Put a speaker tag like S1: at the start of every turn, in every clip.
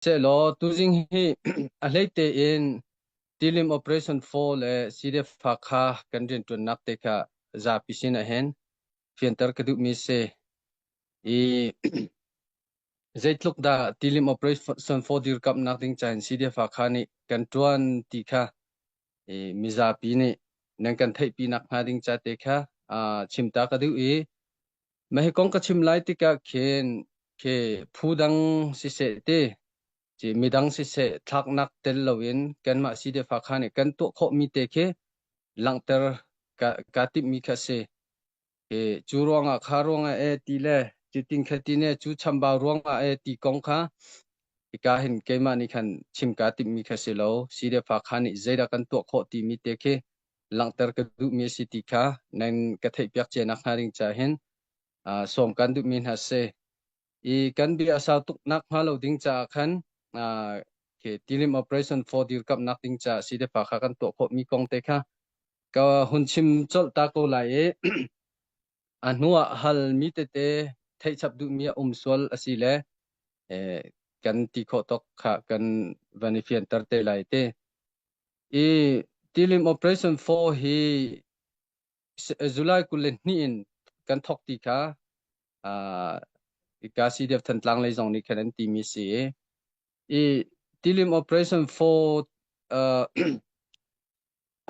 S1: Sehlaw tuzing hi a hleite in tilim Operation Four le CDF-a kha kan rianṭuannak te kha zapi sin ah hin fianter ka duhmi si. I zeitluk dah tilim Operation Four dirkamhnak ding ca in CDF-a kha nih kan ṭuan ti kha i mizapi nih nan kan theihpi nakhnga ding ca te kha chimta ka duh i Na hi kong ka chim lai tikah khin khi phu dang siseh ti ci midang siseh thlaknak tel loin kanmah sidefa kha nih kan tuah khawhmi te khi langhter ka, ka timhmi kha si. Hi cu ruangah kha ruangah e ti le ci tin kha ti ne cu chambau ruangah e ti kong kha hika hin keimah nih khan chim kaa timhmi kha si lo. Sidefa kha nih zeidah kan tuah khawh timi te khi langhter ka duhmi a si ti kha nan ka theihpiak cia nak hnga ding caah hin uh, sawm kan duhmi hna si i kan bia a sau tuk nak hnga lo ding caah khan uh, okay, tilim operation for dirkap nak ding caah si depa kha kan tuah khawh mi kong te kha ka hun chim chol ta ko lai i a hnu ah hal mi tete theih chap duh mi a um sual a si le eh, kan ti khawh tok kha kan van i fianter te lai te I tilim operation four hi July kul le hnih in kan thok ti kha uh, ka CDF Thantlang lei zong nih khan an ti mi si i i tilim operation four uh,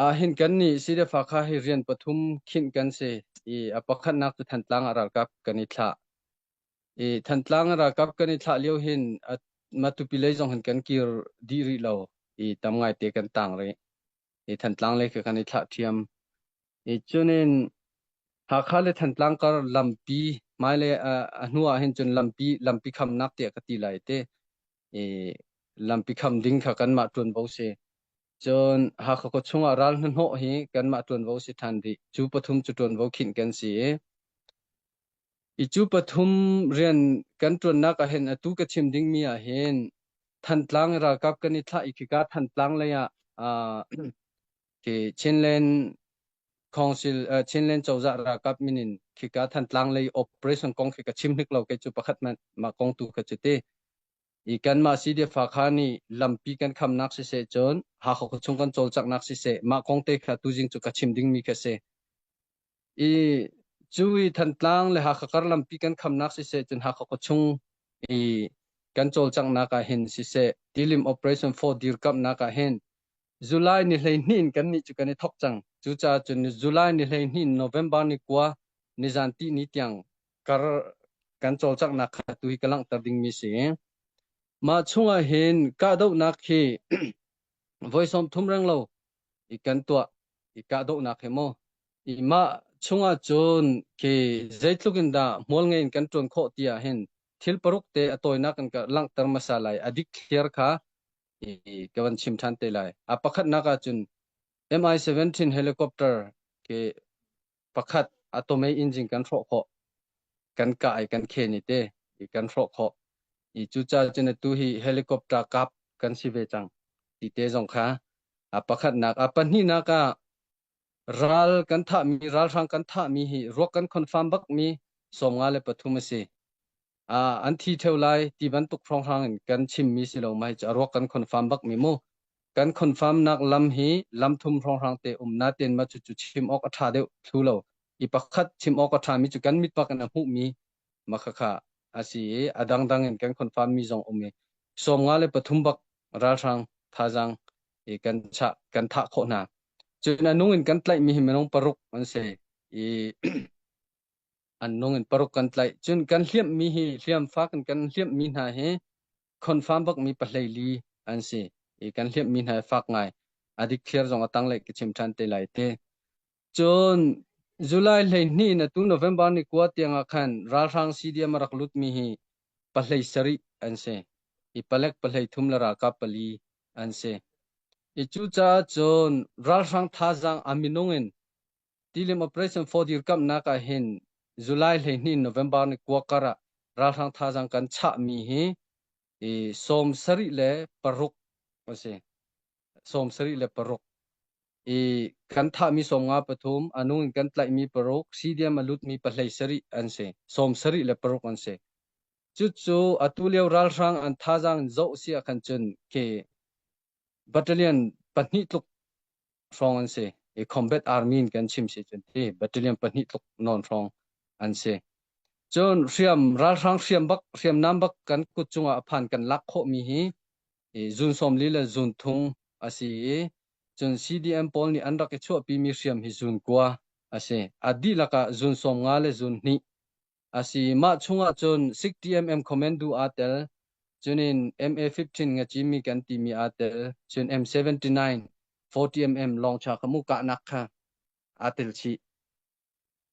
S1: ah hin kan ni CDF kha hi rian pathum khinh kan si i a pakhatnak tu Thantlang a ralkap kan i thlah I Thantlang ralkap kan i thlah lio hin Matupi lei zong hin kan kir dih rih lo i tam ngaite kan tang rih i Thantlang lei kan i thlah thiam i cunin Hakha le Thantlang kar lampi hmailei a hnu ah hin cun lampi lampi khamnak tiah ka ti lai te i lampi kham ding kha kanmah ṭuanvo si cun Hakha khua chungah ral hnahnawh hi kanmah ṭuanvo si ṭhan rih cu pathum cu ṭuanvo khinh kan si i I cu pathum rian kan ṭuannak ahhin atu ka chim dingmi ahhin Thantlang i ralkap kan i thlah i khika Thantlang lei ah uh, Chinland Council uh, Chinland cozah ralkap min in khika Thantlang lei operation kong khi ka chim hnik lo kei cu pakhat man mah kong tu ka cu ti i kanmah CDF kha nih lampi kan khamnak siseh cun hakho chung kan cawlcanghnak siseh mah kong te kha tuzing cu ka chim dingmi ka si I cu i Thantlang le Hakha karlampi kan khamnak siseh cun Hakha khuachung i kan cawlcanghnak ah hin siseh tilim operation for dirkamhnak ah hin July ni hleihnih in kannih cu kan i thok cang. Cucaah cun July ni hleihnih in November ni kua nizan ti ni tiang kar kan cawlcanghnak kha tu hi ka langhter dingmi si. Mah chungah hin kahdohnak hi voi sawm thum reng lo i kan tuah i kahdohnak hi maw i mah chungah cun khi zeitluk in dah hmual ngeiin kan ṭuan khawh ti ah hin thil paruk te a tawinak kan ka langhter hmasa lai a dik thliar kha i ka van chim ṭhan te lai a pakhatnak ah cun MI-17 helicopter khi pakhat atomic engine kan hrawh khawh kan kah i kan khen i te i kan hrawh khawh i cucaah cun tu hi helicopter kap kan si ve cang ti te zong kha a pakhatnak a pahnihnak ah ral kan thahmi ralhrang kan thahmi hi ruak kan confirm bak mi sawmnga le pathum a si an thi theo lai ti bantuk hrawnghrang in kan chimmi si lo mai cu a ruak kan confirm bak mi mu kan confirm nak lam hi lam thum hrawnghrang te um na ten ma chu chu chim ok a tha deuh thlu lo i pakhat chim ok a tha mi chu kan mit pak in a hmu mi makakha asi i a dangdang in kan confirm mi zong um i som nga le pathum bak ralhrang thazang i kan cha kan tha kho hna cun anung in kan tlaih mi hi minung paruk an si i an nung in paruk kan tlaih. Cun kan hliamhmi hi hliamfa kan kan hliamhmi hna hi confirm bakmi pahleili an si i kan hliamhmi hna fak ngai a dikthliar zong a tanglei ka chim ṭhan te lai te. Cun July hleihnih na tu November ni kua tiangah khan ralhrang CDM a rak lutmi hi pahlei sarih an si i palek pahlei thum le ralkap pali an si. I cucaah cun ralhrang thazaang a minung in Tilim Operation for dirkamhnak ah hin July hleihnih November ni kua kar ah ralhrang thazaang kan chahmi hi i sawm sarih le paruk a si sawm sarih le paruk i kan thahmi sawmnga pathum a nung in kan tlaihmi paruk CDM a lutmi pahlei sarih an si sawm sarih le paruk an si cucu atu lio ralhrang an thazaang in zoh siah khan cun ke Battalion pahnih tluk hrawng an si i Combat Army in kan chim si cun hi battalion pahnih tluk non hrawng an si. Cun hriam ralhrang hriam bak hriamnam bak kan kut cungah a phan kan lak khawhmi hi zun sawm li le zun thung a si i cun CDM pawl nih an rak i chuahpimi hriam hi zun kua a si. A dihlak ah zun sawm nga le zun hnih A si. Mah chungah cun SICTM comment du aa tel. Cunin MA15 nga cimmi kan timi aa tel. Cun M79 40mm longcha ka mu kahnak kha aa tel chih.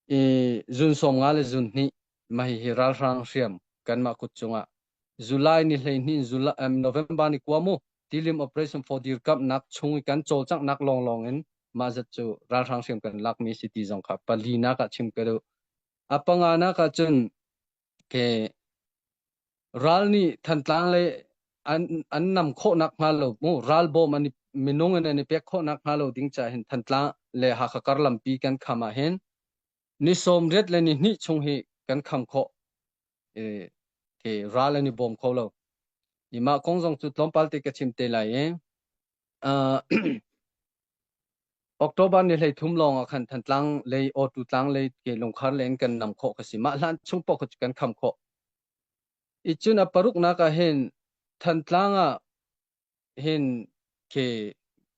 S1: I zun sawm nga le zun hnih mahi hi ralhrang hriam kanmah kut cungah July ni hleihnin July, um, November ni kuamu tilim operation for dir kap nak chung i kan cawlcang nak long long in ma zat cu ralhrang hriam kan lak mi si ti zong kha pali nak ah chim ka duh A panga nak ah cun ke ral nih Thantlang le an an nam khawh nak hnga lo mu ralbawm an i minung in an i pek khawh nak hnga lo ding ca hin Thantlang le Hakha kar lampi kan kham ah hin ni sawm riat le ni hnih chung hi kan kham khawh e, ke ral an i bawm kho lo ima kong zong cu tlawmpal te ka chim te lai e uh, October ni hleithum lawng ah khan Thantlang lei Awtu Tlang lei ke lungkhar leng kan nam khawh ka si. Mah hlan chung poh kan kham khawh. I cun a paruknak ah hin Thantlang ah hin ke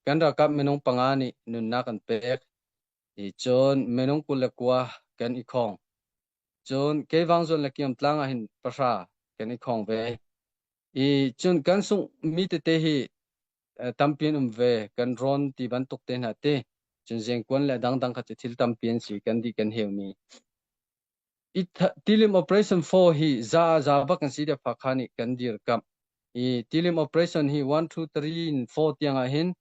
S1: kan rakap minung panga nih nunnak an pek. I cun minung kul le kua kan i khong. Cun Keivang zon le Kiam Tlang ah hin pahra kan i khong ve. I cun kan sungh mi tete hi tampi an um ve. Kan rawn ti bantuk te hna te, cun zengkuan le dangdang kha cu thil tampi an si kan dih kan heumi. I tilim operation 4 hi za za bak an si te pha kha nih kan dir kam. I tilim operation hi 1 2 3 in 4 tiang ah hin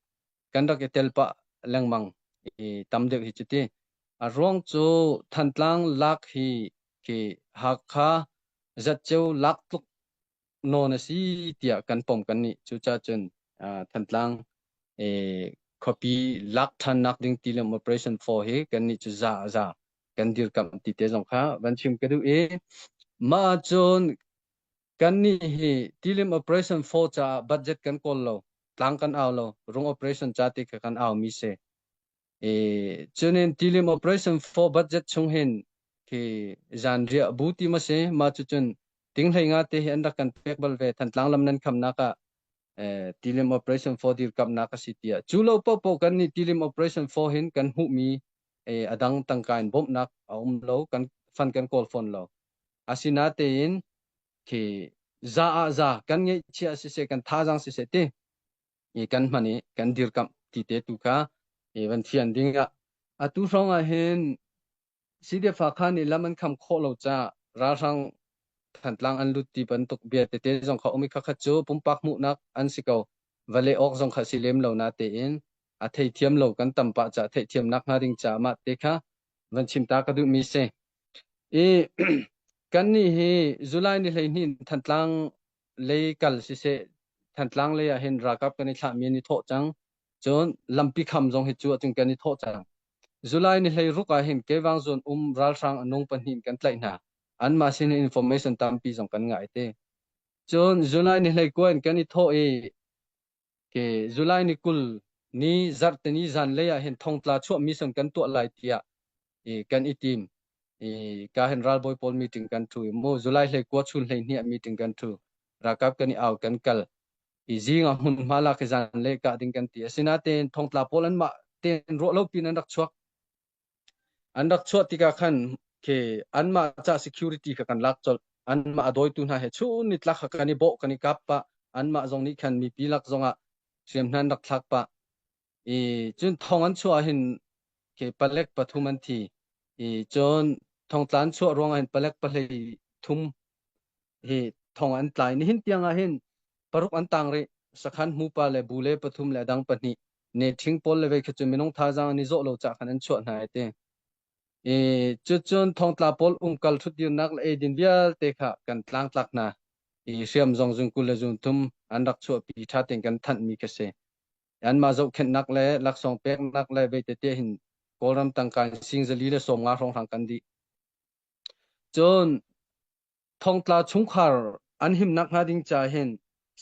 S1: kan rak i telpa lengmang i tam deuh hi cu ti. A ruang cu Thantlang lak hi khi Hakha zatceu lak tluk nawn a si tiah kan pom kan nih cucah cun Thantlang khuapi lak ṭhannak ding tilim operation 4 hi kan nih cu za a za kan dirkamh ti te zong kha van chim ka duh i mah cun kan nih hi tilim operation 4 caah budget kan kawl lo tlang kan au lo rung operation ca te kha kan au mi si E cunin tilim operation for budget chung hin khi zan riah bu ti ma si ma cu cun tinghlei nga te hi an rak kan pek bal ve thantlang lam nan kham nak ah eh, tilim operation for dir kam nak a si tiah cu lo po po kan ni tilim operation for hin kan hu mi eh, adang tangkain bom nak a um lo kan fan kan call phone lo asina te in khi za a za kan ngei chia si se kan tha jang si se ti i kan hman i kan dirkamh ti te tu kha i van thian ding ah atu hrawng ah hin CDF ah khan i lam an kham khawh lo ca ralhrang Thantlang an lut ti bantuk bia tete zong kha umi khakhat cu pumpak hmuhnak an si ko vale awk zong kha si lem lo na te in a thei thiam lo kan tam pa ca theih thiam nak hnga ding ca ma te kha van chim ta ka duh mi si i kan ni hi July ni hlei hnin Thantlang lei kal siseh Thantlang lei ah hin ralkap kan i thlahmi an i thawh cang. Cun lampi kham zong hi cu ahcun kan i thawh cang. July ni hlei ruk ah hin Kevang zone um ralhrang anung pahnih in kan tlaih hna. Anmah sin in information tampi zong kan ngah i ti. Cun July ni hlei kua in kan i thawh i July ni kul ni zarhteni zanlei ah hin thongtla chuahmi sung kan tuah lai tiah kan i tim. Ka hin ralbawi pawl meeting kan thu i mu July hlei kua chun hlei hniah meeting kan thu. Rakap kan i au kan kal. I zing ah hmunhma lak hi zanlei kah ding kan ti. Asinain thongtla pawl an mah ten ruah lo pin an rak chuak. an rak chuah tikah khan khi anmah ca security kha kan lak colh anmah a dawitu hna he chun ni tlak kha kan i bawh kan i kap pah anmah zong nih khan mipi lak zongah hriamhnan rak thlak pah i cun thong an chuah hin khi palek pathum an thi i cun thongtlan chuah ruangah hin palek pahlei thum hi thong an tlai nihin tiang ah hin paruk an tang rih sakhan hmu pa le bu le pathum le dang pahnih ne thing pawl le vei khi cu minung thazaang an i zawh lo cah khan an chuah hna ai ti i cu cun thongtla pawl umkal thutdirnak le eidin vialte kha kan tlang tlak hna i hriam zong zun kul le zun thum an rak chuahpi tha ten kan thanh mi ka si an ma zohkhennak le laksawng peknak le veitete hin kawlram tangka sing zali le sawm nga hrong hrang kan di cun Thongtla chungkhar an himnak hnga ding ca hin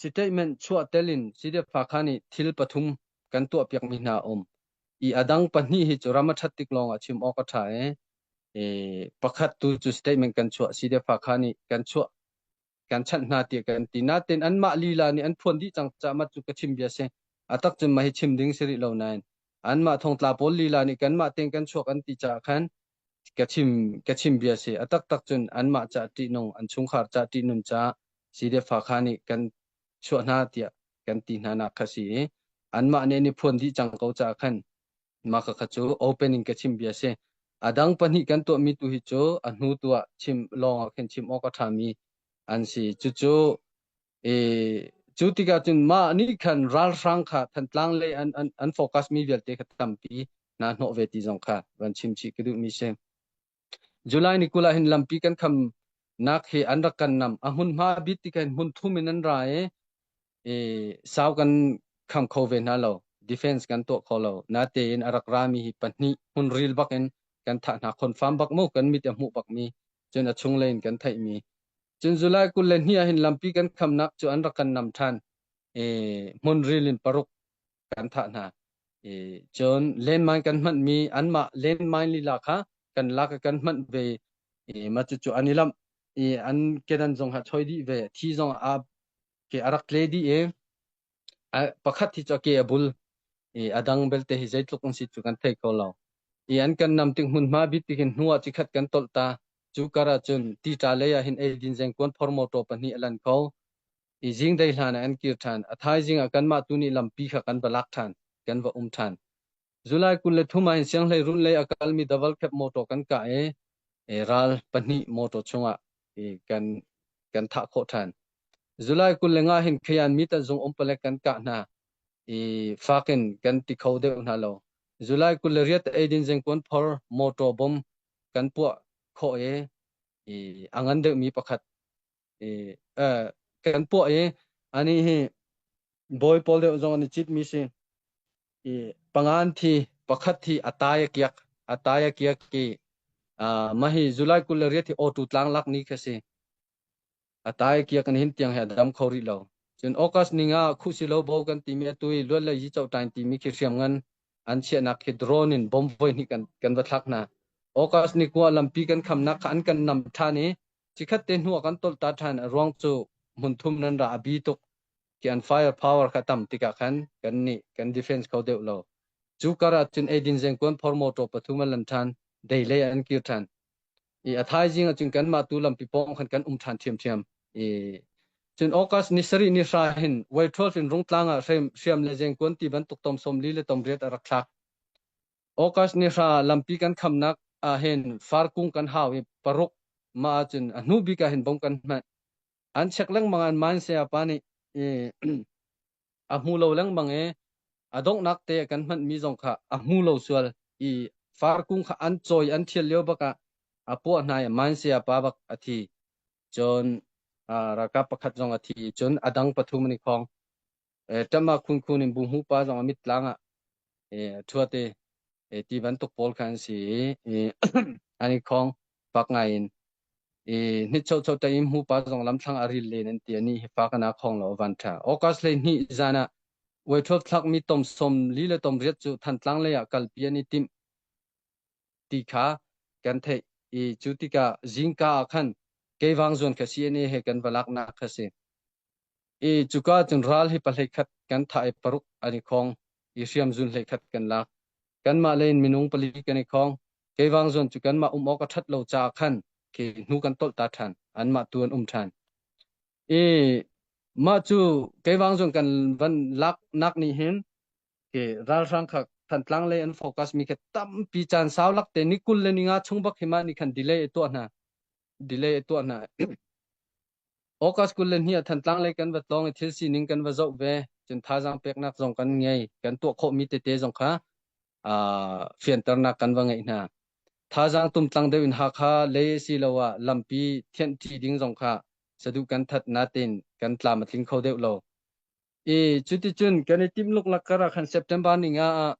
S1: statement chuah tel in Sydefakha nih thil pathum kan tuahpiakmi hna a um i a dang pahnih hi cu ram a ṭhat tik lawng ah chim awk a ṭha i e, pakhat tu cu statement kan chuah Sydefakha nih kan chuah kan chanh hna tiah kan ti natin anmah lila nih an phuan dih cang caah mat cu ka chim bia si a tak cun mah hi chim ding si rih lo nain anmah thongtla pawl lila nih kanmah tein kan chuak an ti caah khan ka chim ka chim bia si a taktak cun anmah ca ṭihnung an chungkhar ca ṭihnun ca CDF-a kha nih kan chuah hna tiah kan ti hna nak kha si i anmah nih an i phuan dih cang ko caah khan mah kha cu open in ka chim bia si a dang pahnih kan tuahmi tu hi cu a hnu tu ah chim lawngah khin chim awk a ṭhami an si cucu E, cu tikah cun mah nih khan ralhrang kha Thantlang lei an an, an focus mi vialte kha tampi na hnawh ve ti zong kha van chim chih ka duh mi si. July ni kul ah hin lampi kan kham nak hi an rak kan nam a hmunhma bit ti kan hmun thum in an ra e e sau kan kham kho ve hna lo defense kan tuah kho lo na te in a rak ra mi hi pahnih hmun ril bak in kan thah hna confirm bak mu kan mit a hmuh bak mi cun a chunglei in kan theihmi cun July kul le hnih ah hin lampi kan khamnak cu an rak kan nam ṭhan e, hmun ril in paruk kan thah hna e, cun landmine kan hmanmi anmah landmine lila kha kan lak ah kan hmanh ve e, ma cucu an i lamh i an kedan zong ha choi dih ve a thi zong aa ke a rak tle dih i pakhat hi cu a ke a bul i a dang belte hi zeitluk an si cu kan thei kho lo. I an kan nam tik hmunhma bit tik in hnu ah cikhat kan tolh ta. Cu kar ah cun tica lei ah hin eidin zengkuan phor motor pahnih a lan kho. I zing dei hlan ah an kir ṭhan. A thaizing ah kanmah tu nih lampi kha kan va lak ṭhan. Kan va um ṭhan. July kul le thum ah in sianghleiruun lei a kalmi davalkhep motor kan kah i ral pahnih motor chungah kan kan thah khawh ṭhan. July kul le nga hin Kayan Mita zung um palek kan kah hna i fak in kan ti kho deuh hna lo. July kul le riat eidin zengkuan phor motor bom kan puah khawh i a ngan deuhmi pakhat i eh, kan puah i anih hi bawi pawl deuh zong an i cit mi si i pangan thi pakhat thi atai akiak atai akiak ki uh, mahi July kul le riat hi otu tlang lak ni ka si atai kia kan hin tiang he dam kho ri lo cun August ninga khu si lo bo kan ti mi atui luat le yi chau tain ti mi khi hriam ngan an chia nak hi drone in bomb voi ni kan kan va thlak na August ni kwa lampi kan kham nak kha an kan nam than i Chikhat te hnu ah kan tolh ta ṭhan a ruang cu hmunthum nan ra a bi tuk ki an firepower kha tam tikah khan kan nih kan defense kho deuh lo. Cu kar ah cun eidin zengkuan phor motor pathum an lan ṭhan, dei lei ah an kir ṭhan. I a thaizing ah cun kanmah tu lampi pawng khan kan um ṭhan ṭhiamṭhiam. I cun August ni sarih ni hra hin Wei 12 in Rungtlang ah hriam le zengkuan ti bantuk tom sawm li le tom riat a rak thlak. August ni hra lampi kan khamnak ahhin farkung kan hau i paruk mah ahcun a hnu bik ahhin bong kan hmanh. An check lengmang an man sayapa nih i a hmu lo lengmang i a donghnak te kan hmanhmi zong kha a hmu lo sual i farkung kha an cawi an thial lio bak ah a puah hna i man sayapa bak a thi. Cun ralkap pakhat zong a thi i cun a dang pathum an i khong. ṭam ah khunkhu in bu hmupa zong a mittlang ah ṭhuat i ti bantuk pawl kha an si i an i khawng fak ngai in i nichocho taim hmupa zong lamthlang a ril len an ti ani hi fa kana khong lo van ṭha august le hnih zan ah uaithuap thlakmi tom som li le tom riat cu thantlang lei ah kalpi an i tim ti kha kan theih i cu tikah zingka ah khan keivang zuan kha si ani he kan va laknak kha si i cuka cun ral hi pahhlei khat kan thah i paruk an i khong i hriam zun hlei khat kan lak kanmah le in minung pali kan i khong kei wang zawn cu kanmah um awk a ṭhat lo caah khan khi hnu kan tolh ta ṭhan anmah tu an um ṭhan i mah cu kei wang zawn kan van lak nak nih hin ke ralhrang kha thantlang le an focus mi kha tampi caan sau lak te ni kul le ni nga chung bak hima ni khan delay tuah hna delay tuah hna August kul le hnih ah Thantlang lei kan va tlawng i thil sining kan va zoh ve. Cun thazaang peknak zong kan ngei. Kan tuah khawhmi tete zong kha uh, fianternak kan va ngeih hna. Thazaang tumtlang deuh in Hakha lei asiloah lampi thianh ṭi ding zong kha saduh kan that natin kan tlam a tling kho deuh lo. I cuticun kan i timluk lak karah khan September ni nga ah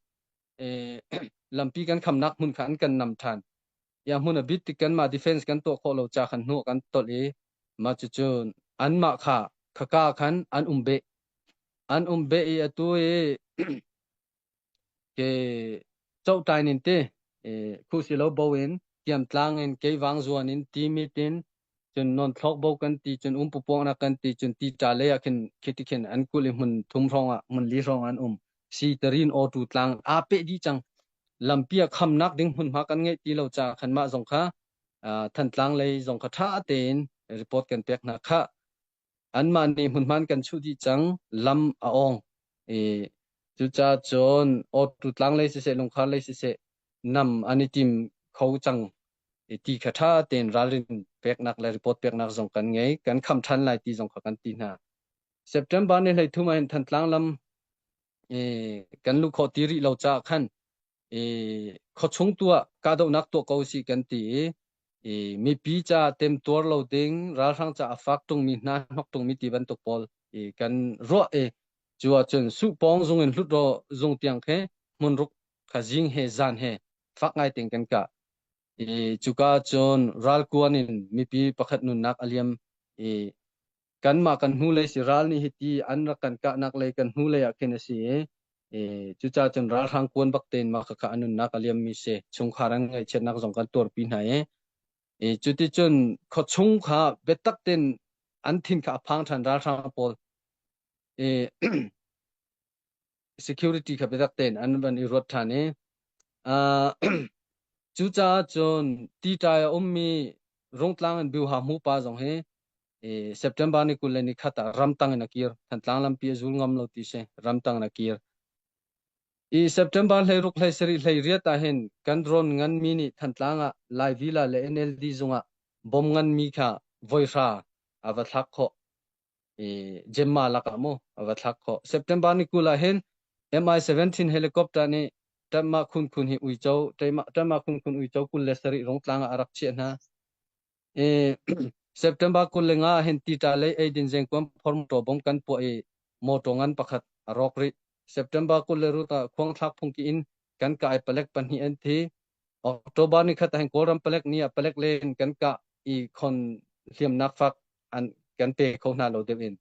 S1: lampi kan khamnak hmun kha an kan nam ṭhan. Ya hmun a bit tik kanmah defense kan tuah khawh lo ca khan hnua kan tolh i mah cucu anmah kha khaka khan an um beh. An um beh i atu i ke chotai nin te khu si lo bo in tiam tlang in ke wang zuan in ti mit in cun nonthlawk bo kan ti cun umpupuangnak kan ti cun tica lei ah khin khiti khin an kulh i hmun thum hrawng ah hmun li hrawng ah an um siterin awtu tlang aa peh dih cang lampi ah khamnak ding hmunhma kan ngeih ti lo caah khan mah zong kha thantlang lei zong kha ṭha tein report kan pek hna khah anmah nih hmunhman kan chuh dih cang lam a ong i cucaah cun awtu tlang lei siseh lungkhar lei siseh nam an i tim kho cang i ti kha ṭha tein ralrin peknak le report peknak zong kan ngei kan kham ṭhan lai ti zong kha kan ti hna September ni hleithum ah hin Thantlang lam i kan luh khawh ti rih lo caah khan i khuachung tu ah kahdohnak tuah ko si kan ti i i mipi ca temtuar lo ding ralhrang ca a fak tungmi hna hnok tungmi ti bantuk pawl i kan ruah i cu ahcun suhpawng zung in hlut ro zung tiang khe hmun ruk kha jing he zan he fak ngai ting kan ka i cuka cun ralkuan in mipi pakhat nunnak aliam i kanmah kan hnulei si ral nih hiti an rak kan kahnak lei kan hnulei ah khin a si i i cucaah cun ralhrang kuan bak tein mah khakha an nunnak a liammi si chungkhar an ngaihchiatnak zong kan tuarpi hna i i cuticun khawchung kha biatak tein an thin kha a phang ṭhan ralhrang pawl i security kha biatak tein an van i ruat ṭhan i uh, cucaah cun tiṭai a ummi rungtlang in biuha hmu pa zong hi September ni kul le ni khat ah ramtang in a kir thantlang lampi a zul ngam lo ti si ramtang in a kir i September hlei ruk hlei sari hlei riat ah hin kan drone ngan mi nih thantlang ah Lai Villa le NLD zung ah bom ngan mi kha voihra a va thlak khawh i Gemma lakah mu a va thlak khawh. September ni kul ah hin MI17 helicopter nih Tanmah phunphun hi uico Taimah Tanmah phunphun uico kul le sarih rongtlang ah a rak chiah hna. I September kul le nga ah hin tita lei eidin zengkuam phormto bom kan puah i motor ngan pakhat a rawk rih. September kul le rut ah khuang thlak phungki in kan kai palek pahnih an thi. October ni khat hin Kawlram palek ni ah palek len kan kah i khon hliamnak fak an kan pe kho hna lo deuh in.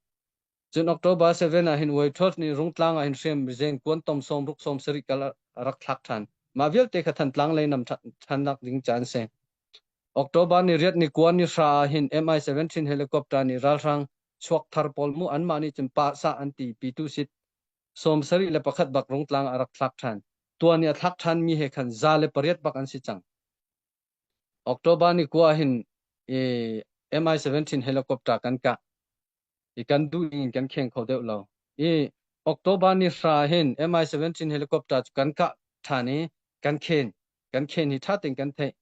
S1: Cun October 7 ah hin Waitrot nih Rungtlang ah hin hriam mizen kuan tom som ruk som sarik kal a rak thlak ṭhan. Mah vialte kha Thantlang lei nam ṭhan nak ding caan se. October ni riat ni kuan ni hra ah hin MI17 helicopter nih ralhrang chuak thar pawl mu anmah nih cun pa sa an ti pi tu sit sawm sarih le pakhat bak rung tlang a rak thlak ṭhan. Tuan i a thlak ṭhan mi he khan za le pariat bak an si cang. October ni kua hin i MI17 helicopter kan ka i kan du in kan kheng kho deuh lo. I October ni hra hin MI17 helicopter cu kan ka ṭhan i kan khen kan khen hi ṭha tein kan theih.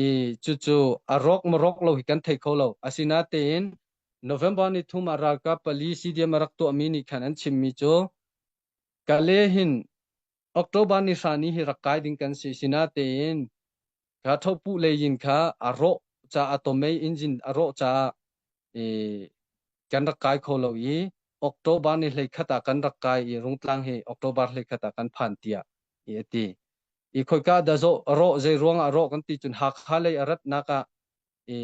S1: i cucu a rawk marawk lo hi kan thei kho lo asinatein November ni thum ah ralkap pali CDM a rak tuahmi nih khan an chimmi cu Kale hin October ni hrani hi rak kai ding kan si sinatein kha thopu lei yin kha a rawh ca a tomei engine a rawh caah i kan rak kai kho lo i October ni hlei khat ah kan rak kai i rungtlang hi October hlei khat ah kan phan tiah i a ti i khoika dah rawh zei ruang ah rawh kan ti cun hakha lei a ratnak ah i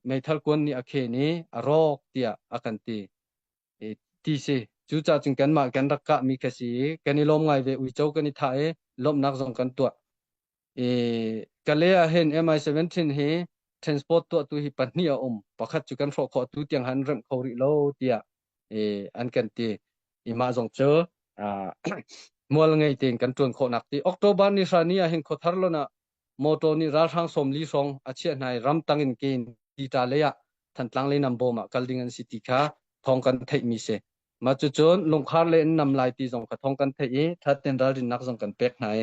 S1: meithal kuan nih a khen i a rawk tiah a kan ti i ti si cu ca cun kanmah kan rak kah mi ka si i kan i lawm ngai ve uico kan i thah i lawmhnak zong kan tuah i kale ah hin MI17 hi transport tuahtu hi pahnih a um pakhat cu kan hrawh khawh tu tiang han remh kho rih lo tiah i an kan ti i mah zong cu uh, mual ngei tein kan tuan khawhnak ti October ni hra ni ah hin khothar lon ah motor nih ralhrang som li song a chiah hnai ram tang in ke in ti ta le ah thantlang le nam bom ah kal ding an si ti kha thong kan theih mi se ma cu cun lungkhar le in nam lai ti zong kha thong kan theih i thatten ralrin nak zong kan pek hnai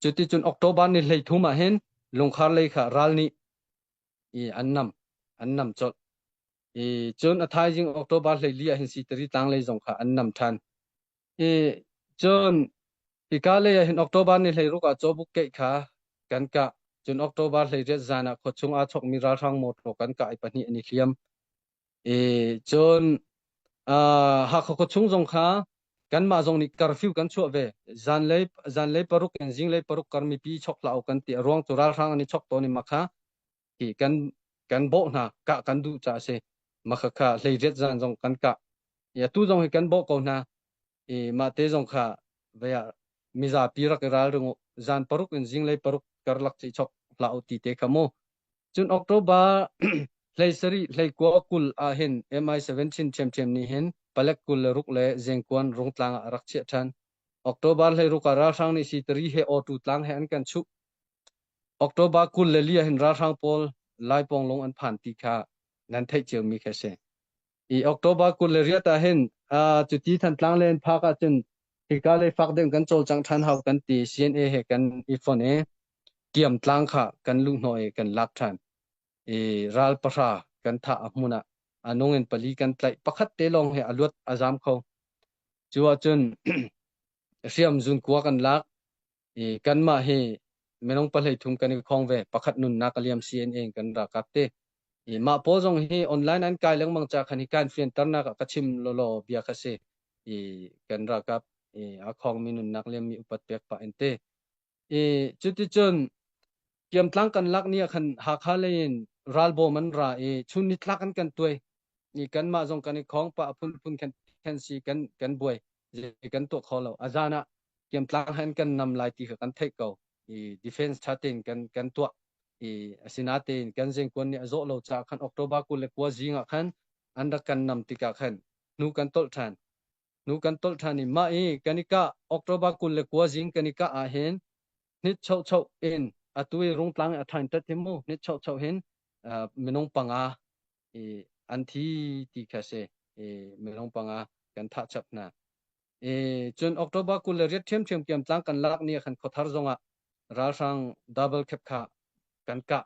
S1: cuti cun October ni hlei thum ah hin lungkhar lei kha ral nih i an nam an nam chawt i cun a thaizing october hleili ah hin si tari tanglei zong kha an nam than i cun ika lei ah hin october ni hlei ruka chobuk ke kha kan ka cun october hlei riat zan ah khuachung a chok mi ralhrang motor kan ka ai pahnih an i hliam E, cun uh, Hakha khuachung zong kha kanmah zong nih curfew kan chuah ve. Zanlei zanlei paruk in zinglei paruk kar mipi chok hlah u kan ti. A ruang cu ralhrang an i chok tawn i makha hi kan kan bawh hna kah kan duh ca a si. Makha kha hleiriat zan zong kan kah. Ya tu zong hi kan bawh ko hna. i mahte zong kha vei ah mizapi rak i ralring u zan paruk in zinglei paruk karlak chi chok hla u ti te kha mu cun october hlei sari hlei kua kul ah hin mi7 chin chem ni hin palek kul le ruk le zengkuan rungtlang ah rak chiah than october hlei ruka ralhrang ni si tari he otu tlang he an kan chu october kul le lia hin ralhrang pawl laipong lung an phan ti kha nan theih cio mi kha si i October kul le riat ah hin uh, cuti Thantlang le phak ah cun hika le fak ding kan cawlcang than hau kan ti CNA he kan i fon i kiam tlang kha kan lu hno i kan lak than i ral pahra kan tha a hmun ah anung in pali kan tlaih pakhat te long he aluat azam kho chu a cun hriam zun kuwa kan lak I kanmah hi minung pahlei thum kan i khong ve. Pakhat nunnak a liam CNA in kan rakak ti. I mah pawl zong hi online an kai lengmang ca khan hi kan fianternak ah ka chim lolo bia kha si. I kan rakap i a khongmi nunnak liammi upat pek pa in te. I cuticun kiamtlang kan lak ni ah khan Hakha lei in ralbawm an ra i chun ni tlak an kan tuai ni kanmah zong kan i khong pa a phun phun khan khan si kan kan buai zei kan tuah kho lo a zan ah kiamtlang han kan nam lai ti kha kan theih ko i defense tha tein kan kan tuah i asinatein kan zengkuan nih a zawh lo caah khan october kul le kua zing ah khan an rak kan nam tikah khan nu kan tolh than nu kan tolh than i mah i kan i ka october kul le kua zing kan i ka ah hin nit chau chau in atu i rungtlang a thain tat hi mu nit chau chau hin minung panga i an thi ti kha si i minung panga kan thah chap hna i cun october kul le riat ṭhiamṭhiam kiam tlang kan lak ni khan khuathar zongah ralhrang double cap kha kan kah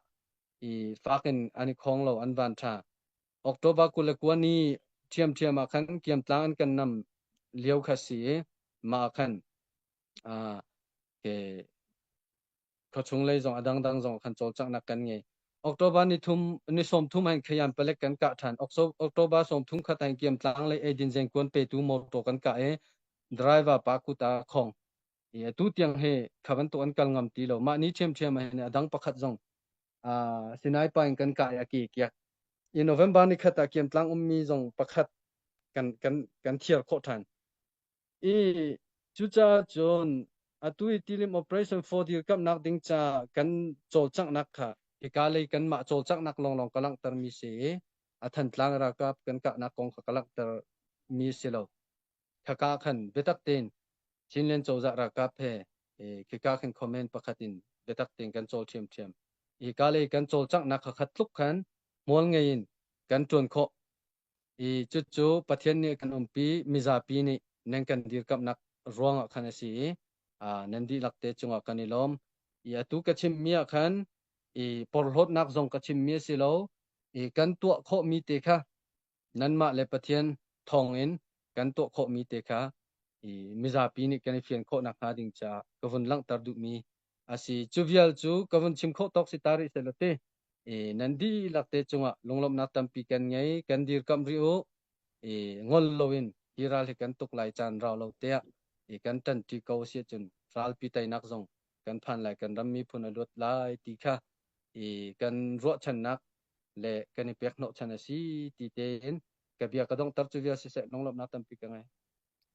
S1: i fak in an i khong lo an van ṭha october kul le kua ni ṭhiamṭhiam ah khan kiam tlang an kan nam lio kha si i mah khan ke Khuachunglei zong a dangdang zong kan cawlcanghnak kan ngei. October ni, thum, ni sawmthum hain Khayan palek kan kah ṭhan. October sawmthum khat hain Kiam Tlang lei eidin zengkuan petu motor kan kah i driver pa kut ah khawng. I atu tiang he kha bantuk an kal ngam ti lo. Mah ni ṭhiamṭhiam ah adang pakhat zong Sinai pa in kan kah i a ki kiak. I November ni khat ah Kiam Tlang ummi zong pakhat kan kan kan thiar khawh ṭhan. I cucaah cun atu i tilim operation for dirkamhnak ding ca kan cawlcanghnak kha hika lei kanmah cawlcanghnak lawnglawng ka langhtermi si i a thantlang ralkap kan kahnak kong kha ka langhter mi si lo. Khaka khan biatak tein Chinland cozah ralkap he khika khin comment pakhat in biatak tein kan cawl ṭhiamṭhiam. Hika lei kan cawlcanghnak kha khat tluk khan hmual ngei in kan ṭuan khawh I cucu Pathian nih kan umpi mizapi nih nan kan dirkamhnak ruangah khan a si i nan dihlak te cungah kan i lawm. I atu ka chimmi ah khan i porhlawtnak zong ka chimmi a si lo i kan tuah khawhmi te kha nanmah le Pathian thawngin kan tuah khawhmi te kha i mizapi nih kan i fian khawh nakhnga ding caah ka vun langhter duhmi Asi, cu vial cu ka vun chim khawh tawk si ta rih seh law ti. I nan dihlak te cungah lunglawmhnak tampi kan ngei, kan dirkamh rih u. I ngol loin hi ral hi kan tuk lai caan rau lo tiah i kan ṭanṭi ko si ahcun ralpi teinak zong kan phan lai, kan ram miphun a luat lai ti kha i kan ruahchannak le kan i pekhnawh chan a si ti tein ka bia ka dongter cu vial siseh lunglawmhnak tampi ka ngei.